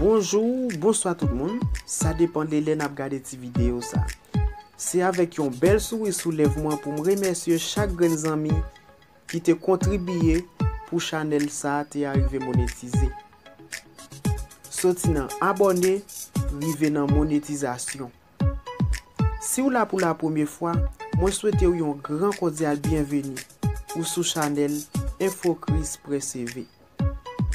Bonjou, bonswa tout moun, sa depan de lè n ap gade ti videyo sa. Se avèk yon bèl souri sou lèv mwen pou m remèsye chak grenn zanmi. ki te kontribiye pou chanèl sa te arive monetize. Soti nan abòne rive nan monetizasyon. Si w la pou la premye fwa, mwen swete w yon gran kodyal byenveni ou sou chanèl Info Christ Près Éve.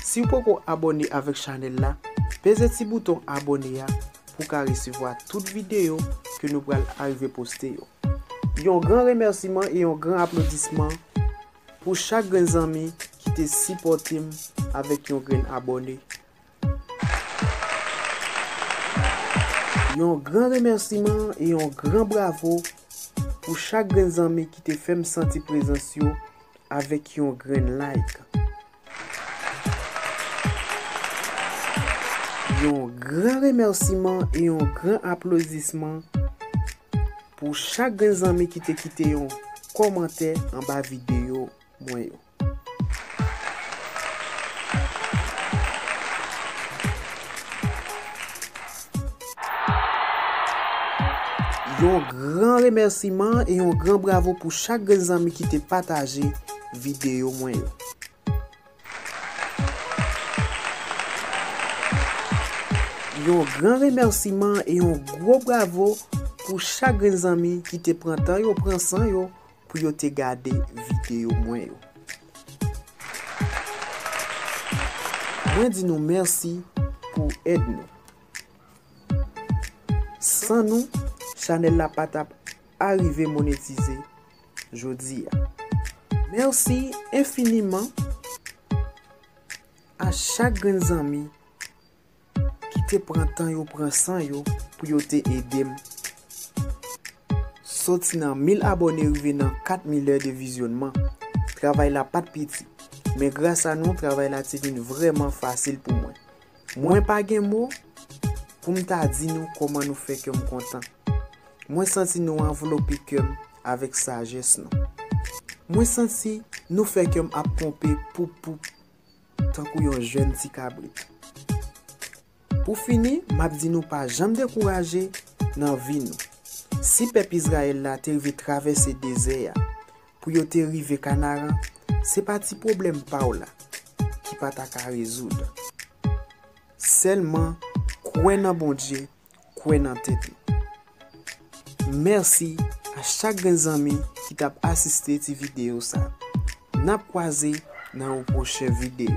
Siw poko abòne avèk chanèl la peze ti bouton abòne a pou ka resevwa tout videyo ke nou pral arive poste yo. Yon gran remèsiman e yon gran aplodisman pou chak grenn zanmi ki te sipòtem avèk yon grenn abòne. Yon gran remèsiman e yon gran bravo pou chak grenn zanmi ki te fè m santi prezans yo avèk yon grenn like. Yon gran remèsiman e yon gran aplodisman pou chak grenn zanmi ki te kite yon kòmantè anba videyo mwen yo. Yon gran remèsiman e yon gran bravo pou chak grenn zanmi ki te pataje videyo mwen yo. Yon gran remèsiman e yon gwo bravo pou chak grenn zanmi ki te pran tan yo, pran san yo pou yo te gade videyo mwen yo. Mwen di nou mèsi pou èd nou. San nou, chanèl la pa tap arive monetize jodi a. Mèsi enfiniman a chak grenn zanmi. ki te pran tan yo pran san yo pou yo te edem soti nan 1000 abòne rive nan 4 mil è de vizyonman travay la pat piti men gras a nou travay la te vin vrèman fasil pou mwen mwen pa gen mo poum ta di nou kòman nou fè kèm kontan mwen santi nou anvlope kèm avèk sajès nou mwen santi nou fè kèm ap ponpe poup poup. Tankou yon jèn ti kabrit. Pou fini, m ap di nou pa janm dekouraje nan vi nou. Si pèp Izrayèl la te rive travèse dezè a pou yo te rive Kanaran, se pa ti pwoblèm pa w la ki pa ta ka rezoud. Sèlman kwè nan Bondye kwè nan tèt ou. Mèsi a chak grenn zanmi ki tap asiste ti video sa. Nap kwaze nan yon pwochen video.